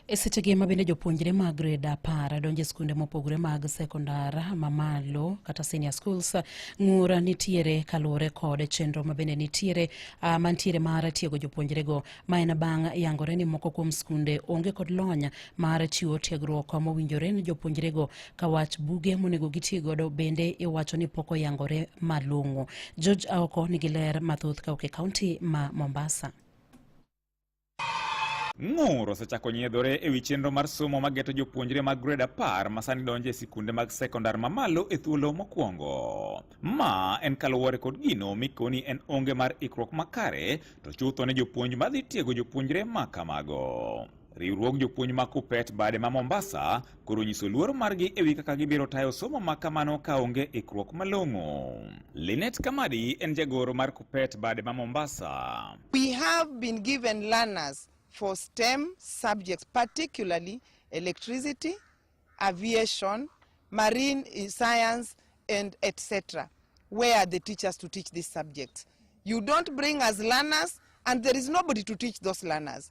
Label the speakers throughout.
Speaker 1: E sechegi ma bende jopuonjre mag grade apar donjo e skunde mopogore mag sekondar mamalo kata senior schools ng'ura nitiere kaluwore kod chenro ma bende nitiere uh, mantiere mar tiego jopuonjrego ma en bang' yangore ni moko kuom skunde onge kod lony mar chiwo tiegruok mowinjore ni jopuonjrego ka wach buge monego giti godo bende iwacho ni pok oyangore malong'o. George Aoko nigi ler mathoth kawuok e kaunti ma Mombasa.
Speaker 2: Ng'ur osechako nyiedhore e wi chenro mar somo ma geto jopuonjre mag grade apar ma sani donjo e sikunde mag sekondar mamalo e thuolo mokwongo. Ma en kaluwore kod gino mikoni en onge mar ikruok makare to chutho ne jopuonj madhi tiego jopuonjre ma kamago. Riwruog jopuonj ma KUPPET bade ma Mombasa koro nyiso luor margi ewi kaka gibiro tayo somo ma kamano ka onge ikruok malong'o. Linet Kamadi en jagoro mar Kupet bade ma Mombasa. We have
Speaker 3: been given learners for STEM subjects particularly electricity, aviation, marine science and etc. Where are the teachers to teach these subjects? You don't bring us learners and there is nobody to teach those learners.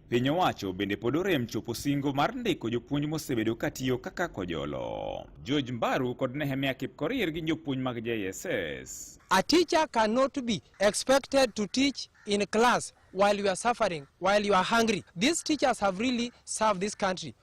Speaker 2: Piny owacho bende pod orem chopo singo mar ndiko jopuonj mosebedo katiyo kaka kojolo. George Mbaru kod Nehemia Kipkorir gin jopuonj mag JSS. A teacher
Speaker 4: cannot be expected to teach in class while you are suffering, while you are hungry. These teachers have really served this country.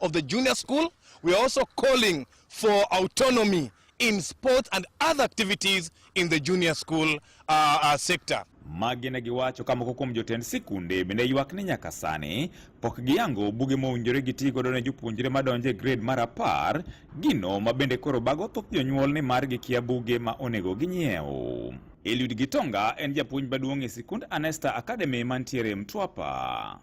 Speaker 5: of the junior school. We are also calling for autonomy in sports and other activities in the junior school uh, uh, sector. magi ne
Speaker 2: giwacho ka moko kuom jotend sikunde bende ywak ni nyaka sani pok giyango buge mowinjore giti godo ne jopuonjre madonjo e grade mar apar gino ma bende koro bago thoth jonyuol ni mar gikia buge ma onego ginyiew Eliud Gitonga en japuonj maduong' e sikund Anesta Academy mantiere Mtwapa.